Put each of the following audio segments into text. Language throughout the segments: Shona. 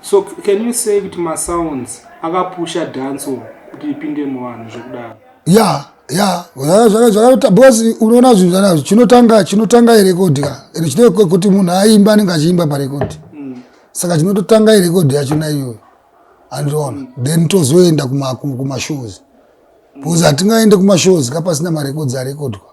So can you say kuti masounds akapusha dancehall kuti ipinde muvanhu zvekudaro? Yeah, yeah. Because unoona zvinhu zvanazvo chinotanga chinotanga irekodhi ka ende chine kuti munhu aimba anenge achiimba parekodhi mm. saka chinototanga irekodhi yachona iyoyo andiona mm. then tozoenda kumashows because hatingaende kumashows ka pasina marekodhi arekodhwa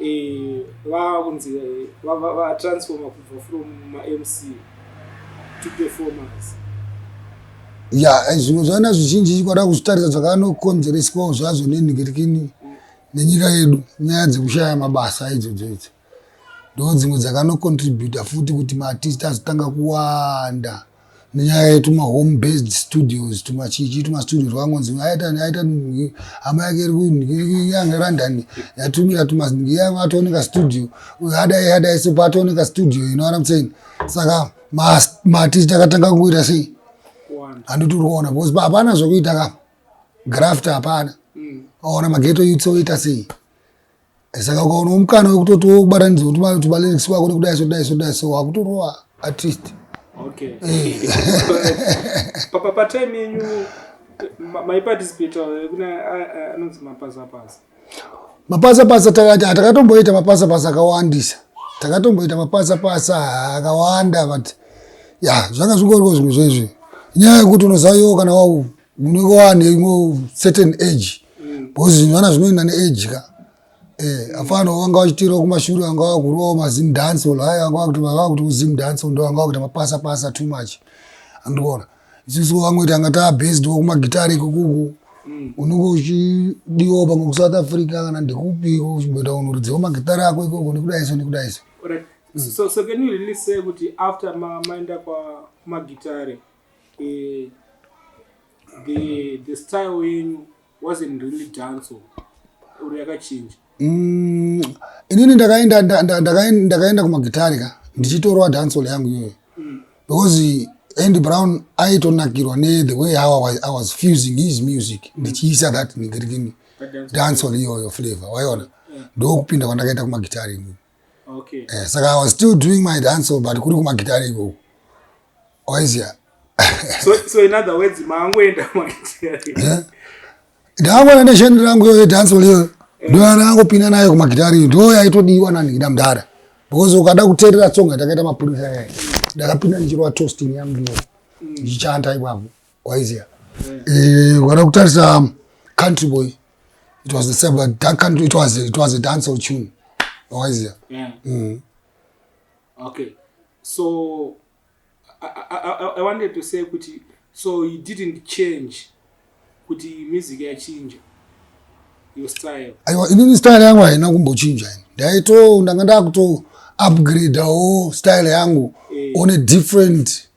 eh, vava kunzi eh, vatransforma kubva from mamc to performers ya eh, zvinhu zvaana zvizhinji chikwada kuzvitarisa zvakanokonzereswawo zvazvo nenhikirikini nenyika yedu nyaya dzekushaya mabasa idzodzo idzi ndo dzimwe dzakanocontributa futi kuti maartist azotanga kuwanda nenyaya yetuma home based studios tuma chichi tuma studio twakangonzi aita aita hama yake iri yanga london yatumira tuma yanga atooneka studio adai adai so paatooneka studio you know what i'm saying saka mati takatanga kuita sei handiti uri kuona because hapana zvekuita ka graft hapana mm. aona mageto yutsoita sei saka ukaona mukana wekutoti wobatanidza kuti malyrics wako nekudai so dai so dai so wakutorowa artist okay eh. papa patime yenyu maiparticipate eh, kuna eh, anonzi mapasa pasa mapasa pasa takatomboita mapasa pasa akawandisa takatomboita mapasa pasa akawanda but ya zvanga zvingoriko zvimwe zvezvi nyaya yekuti unozaviwo kana wau unenge wane imwe certain age mm. because zvinhu vana zvinoenda neage ka eh, afana vanga vachitirawo kumashure vanga vakurowa mazim dance ol haya vanga vakuti vanga vakuti uzim dance ol ndo vanga vakuita mapasa pasa too much andiona isisu vamwe kuti anga taa based wo kumagitari ikukuku mm. unenge uchidiwawo pamwe kusouth africa kana ndikupi uchimboita unhu rudziwo magitari ako ikoko nekudaiso nekudaiso mm. so, so can you really say kuti after maenda ma kwamagitari Eh, the the style yenyu wasn't really dancehall or yakachinja Mm, inini ndakaenda nda- nda- ndakaen- ndakaenda kumagitari ka ndichitorwa dancehall yangu iyoyo because andy brown aitonakirwa ne the way how I was, I was fusing his music ndichiisa that nigirikini dancehall iyoyo flavor waiona ndokupinda kwandakaita kumagitari inini okay. eh, saka i was still doing my dance but kuri kumagitare ikoko waizia so, so in other words maangoenda magitare ndaangona nesheni rangu yo yedance leyo ndoyana angopinda nayo kumagitare ndo yaitodiwa nanhikida mdara because ukada kuteerera tsonga takaita mapurisa ndakapinda ndichirova tostin yangu yo ndichichanta ipapo waiziva eh, ukada kutarisa um, country boy it was the same but that country it was it was a dance or tune waiziva yeah. mm. okay so I, I, I, i wanted to say kuti so you didn't change kuti music yachinja your style aiwa inini style yangu haina kumbochinja ini ndaito ndanga ndakuto upgrade wo style yangu yeah. on a different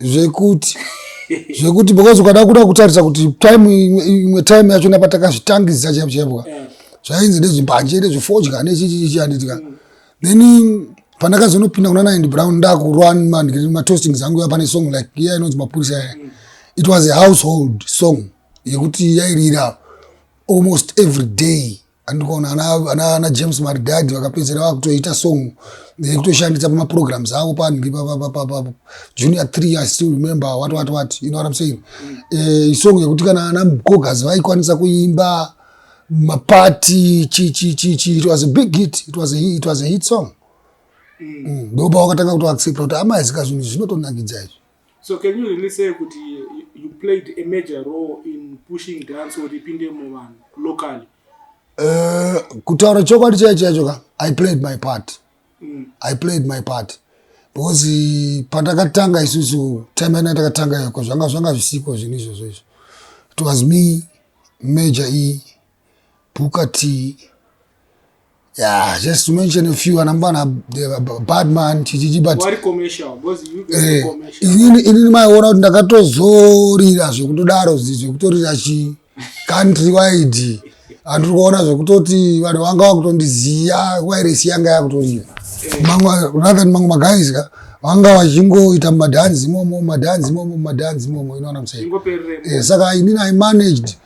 zvekuti zvekuti because ukada kuda kutarisa kuti time imwe time yacho napatakazvitangisa chaipo chaipwa eh. zvainzi nezvimbanje nezvifodya nechichichichi anditika mm. then pandakazonopinda kuna naindi brown ndakurwa matostings angu yapane song like iya inonzi mapurisa yaya mm. it was a household song yekuti yairira almost every day andikuona ana james maridadi vakapedzera vakutoita song nekutoshandisa pamaprograms avo panhi papapapapapo junior three i still remember what what what you know what i'm saying mm. eh, isong yekuti kana ana mgogas vaikwanisa kuimba mapati chi chi chi chi it was a big hit it was a, it was a hit song mm. mm. ndopa wakatanga kutoaccepta kuti amai zika zvinhu zvinotonakidza izvi So can you really say kuti you played a major role in pushing dance or ipinde muvanhu locally? Uh, kutaura chokwadi chaicho chaicho ka I played my part. Mm. I played my part. Because eh, patakatanga isusu time yana takatanga yoko zvanga zvanga zvisiko zvinhu izvozvo izvo. It was me, Major E, Booker T. Yeah, just to mention a few anambana uh, Badman chichichi but wari commercial because you get eh, commercial. Inini inini maiona kuti ndakatozorira zvekutodaro zvekutorira chi country wide andiri kuona zvekutoti vanhu vanga vakutondiziva wairesi yanga yakutoriva manweathan mamwe maguys ka vanga vachingoita madhanzi imomo madhanzi imomo madhanzi imomo inoona musai eh, saka inini i managed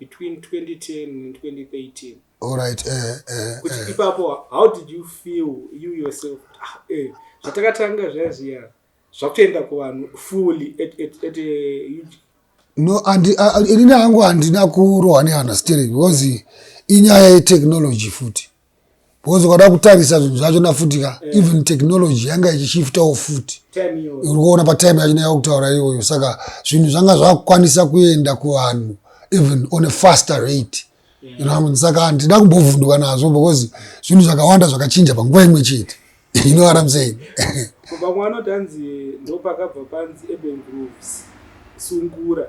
between 2010 and 2013 all right eh, eh, eh. kuti eh. ipapo how did you feel you yourself ah, eh, zvatakatanga zvaya zviya zvakutoenda kuvanhu fully at, at, at a huge no ini hangu handina kurohwa neunderstanding because inyaya yetechnology futi because ukada kutarisa zvinhu zvacho nafuti ka eh. even technology yanga ichishiftawo futi uri kuona patime yacho naya kutaura iyoyo saka zvinhu zvanga zvakukwanisa kuenda kuvanhu even on a faster rate saka handina kumbovhunduka nazvo because zvinhu zvakawanda zvakachinja panguva imwe chete you know what I'm saying vamwe vanoti hanzi ndopakabva panzi urban grooves sungura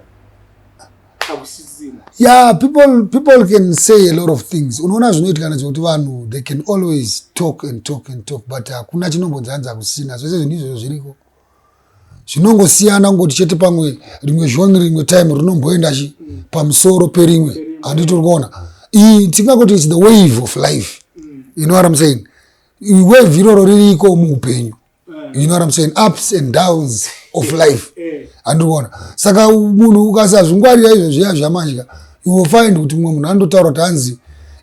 yeah people people can say a lot of things unoona zvinoitika nezvekuti vanhu they can always talk and talk and talk but hakuna chinombonzi hanzi hakusina zvese zvinhu izvozvo zviriko zvinongosiyana kungoti chete pamwe rimwe zvoni rimwe time rinomboenda chi pamusoro perimwe handiti uri kuona tingakoti its the wave of life you know what im saying wave iroro ririko muupenyu you know what I'm saying ups and downs of life andikuona saka munhu ukasazvingwarira izvo zviya zvamadya you will find kuti mumwe munhu anototaura kuti hanzi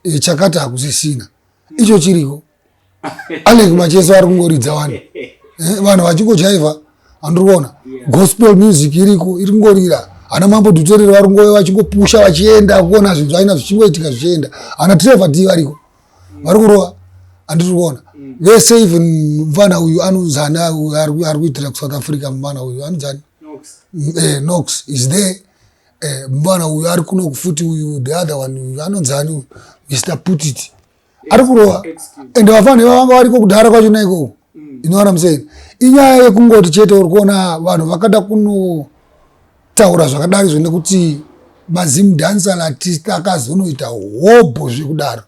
eh, chakata hakusisina icho chiriko alek macheso ari kungoridza vanhu eh, vanhu vachingojaiva andikuona gospel music iriko iri kungorira ana mambo duterere vari kungove vachingopusha vachienda kuona zvinhu zvaina zvichingoitika zvichienda ana trevor d variko vari kurova andiri kuona mm. vese even mvana uyu anonzani ari kuitira kusouth africa mvana uyu anonzani eh, nox is there eh, mvana uyu ari kuno kufuti uyu the other one uyu anonzani uyu mr putit ari kurova ende vafana ivavanga variko kudhara kwacho naikoko inoona musei inyaya yekungoti chete uri kuona vanhu vakada kunotaura zvakadari zvo nekuti mazim dancer latist akazonoita hobho zvekudaro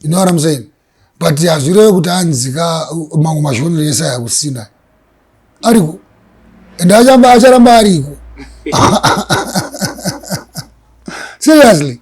inoona musei but hazvireve kuti anzika mamwe mazhonero ese aya kusina ariko and acharamba ariko seriously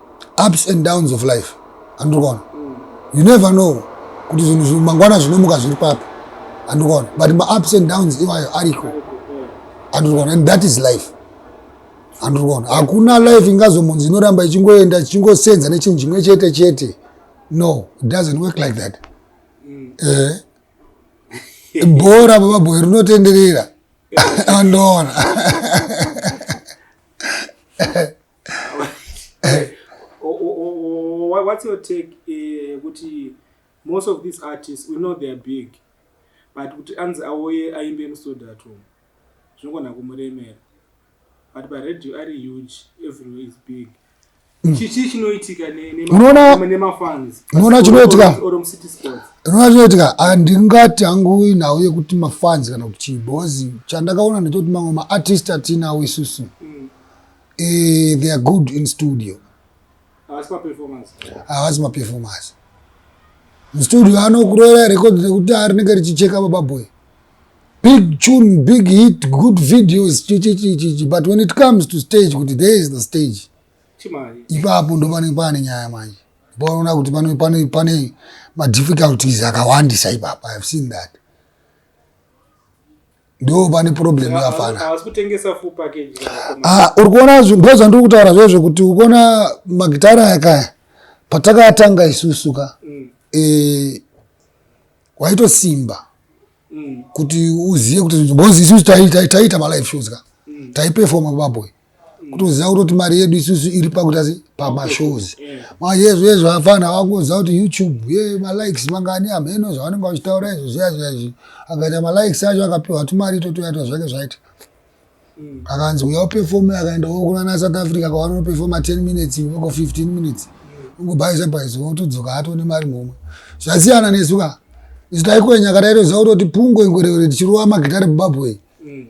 ups and downs of life andikuona mm. you never know kuti zvinhu zvimangwana zvinomuka zviri papi andikuona but maups and downs iwayo ariko andikuona and that is life andikuona hakuna life ingazomunzi inoramba ichingoenda ichingosenza nechinhu chimwe chete chete no it doesn't work like that mm. eh. bhora bababhoyi rinotenderera andoona what's your take eh, kuti most of these artists we know they are big but kuti anzi auye aimbe musodato zvinogona kumuremera but paradio ari huge everywhere is big hmm. chichii chinoitika nemafans unoona chinoitika unoona chinoitika handingati hangu inhau yekuti mafans kana kuti chii bhozi chandakaona ndechekuti mamwe maartist atinawo isusu mm. Eh, they are good in studio. Havasi maperformance. Havasi maperformance. Mustudio anokurera record rekuti ari rinenge richicheka baba boy. Big tune, big hit, good videos, chi chi chi chi chi. But when it comes to stage, kuti there is the stage. Chimari. Ipapo ndo pane pane nyaya manje. Paona kuti pane pane pane ma difficulties akawandisa ipapa. I have seen that. ndo pane problem yafana ah, uri kuona ndo zvandiri kutaura zvezvo kuti ukuona magitara yakaya patakatanga isusu ka mm. e, waitosimba mm. kuti uzive kuti bozi isusu taiita malive shows ka mm. taipefoma baboy kutoziva kutoti mari yedu isusu iri pakuita se pamashows manje hezvo hezvo afana vakuziva kuti youtube ye malikes mangani hameno zvavanenge vachitaura izvo zviya zviya izvi akaita malikes acho akapiwa tumari totoyatwa zvake zvaita mm. akanzi uya upefome akaenda wokunana south africa kwavanopefoma 10 minutes voko 15 minutes ungobhaisa bhaisa wotodzoka hatone mari mhomwe zvasiyana nesuka isu taikwenya kataitoziva kutoti pungo ingwerewere tichirowa magitare bubabwei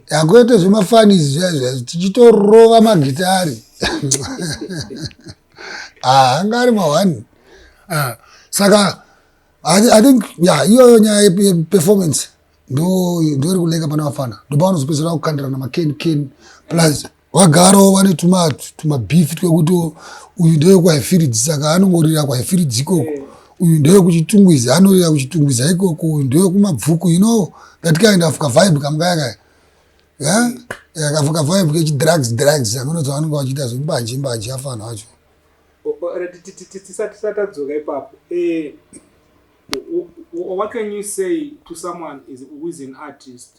hakuite zvemafanizi zviyaizviyaizvi tichitorova magitari ah, anga ari mahwani ah, saka i think ya iyoyo nyaya yeperformance ndo iri kuleka pana vafana ndopavanozopeserana kukandirana maken ken plus vagaro vane tumabhifi twekuti uyu ndewekwahifiridzi saka anongorira kwahifiridzi ikoko uyu ndewekuchitungwiza anorira kuchitungwiza ikoko uyu ndewekumabvuku you know that kind of kavibe kamukayakaya akafuka vibe kechidrugs drugs akunoti vanenge vachiita zvembanje mbanje afanhu acho tisati tatadzoka ipapo eh, what can you say to someone who is an artist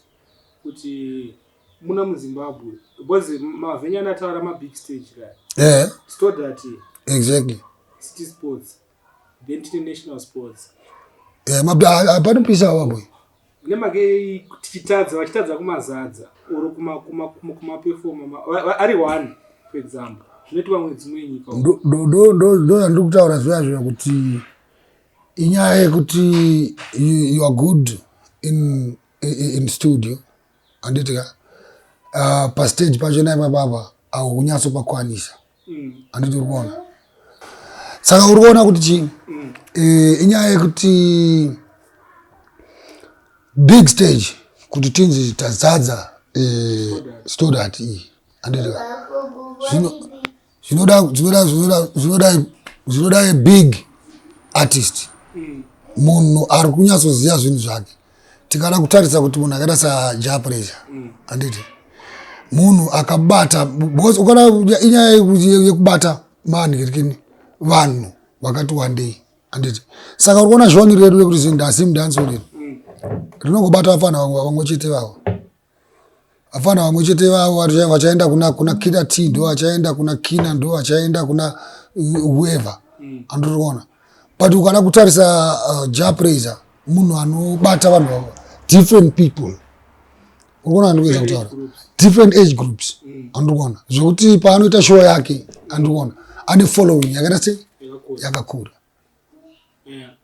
kuti muna muzimbabwe because mavhenya anataura mabig stage kaya yeah. sto that exactly city sports then tine national sports yeah, panopisa awabwe nemake tichitadza vachitadza kumazadza or kumapefoma ari one for example zvinoitwa mune dzimwe nyika ndozvandiri kutaura zviya zviya kuti inyaya yekuti you are good in, in studio handiti ka uh, pastage pacho naipa baba aunyatso pakwanisa mm. handiti uri kuona saka uri kuona kuti chii mm. eh, inyaya yekuti big stage kuti tinzi tazadza eh, stodat iyi handiti ka zvino zvinoda zvinoda zvinoda zvinoda zvinoda a big artist mm. munhu ari kunyatsoziva zvinhu zvake tikada kutarisa kuti munhu akaita saja pressure mm. anditi munhu akabata because ukada inyaya yekubata manhirikini vanhu vakati wandei anditi saka uri kuona zvoni redu rekuti zindasi mdansi riri mm. rinongobata vafana vamwe chete vavo hapana vamwe chete vavo vachaenda kuna kuna kina t ndo vachaenda kuna kina ndo vachaenda kuna whoever mm. andiriona but ukada kutarisa uh, japraiser munhu anobata vanhu vavo different people urikuona andikuedza kutaura different age groups mm. andikuona zvekuti paanoita show yake andikuona ane following yakaita sei yakakura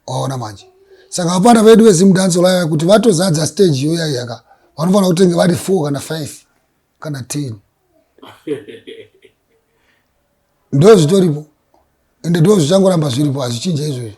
waona manje saka vapana vedu vezimdanso laya kuti vatozadza stage iyoyayaka vanofanira kutenge vari four kana five kana ten ndo zvitoripo ende ndo zvichangoramba zviripo hazvichinja izvozvo